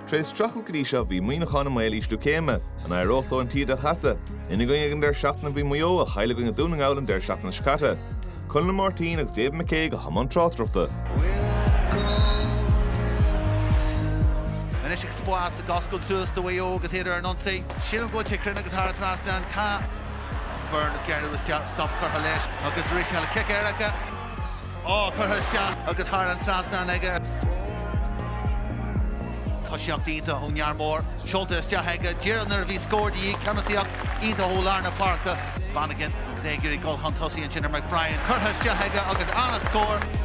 Tar éis streachailt go dtí seo bhí Muíneachán i mbaol ísliú céime. An éireodh leo an taoide a chasadh? Ina gcoinne ag an deireadh seachtaine bhí Maigh Eo a chaill i gcoinne Dún na nGall an deireadh seachtaine seo caite. Conall Máirtín agus David McCague i mbun tráchtaireachta. Anois spás ag oscailt suas do Mhaigh Eo agus iad ar an ionsaí. Sílim go bhfuil sé cruinn agus thar an trasnán, tá. Byrne, gearradh isteach, stop curtha leis agus arís eile cic éirice. á curtha isteach agus thar an trasnán aige. Cosaíocht iontach ón fhear mór seolta isteach aige. Díreach nuair a bhí scór de dhíth, ceannasaíocht iontach ó lár na páirce. Bannigan agus é ag iarraidh gabháil chun tosaigh ansin ar McBrien. Curtha isteach aige agus an-scór.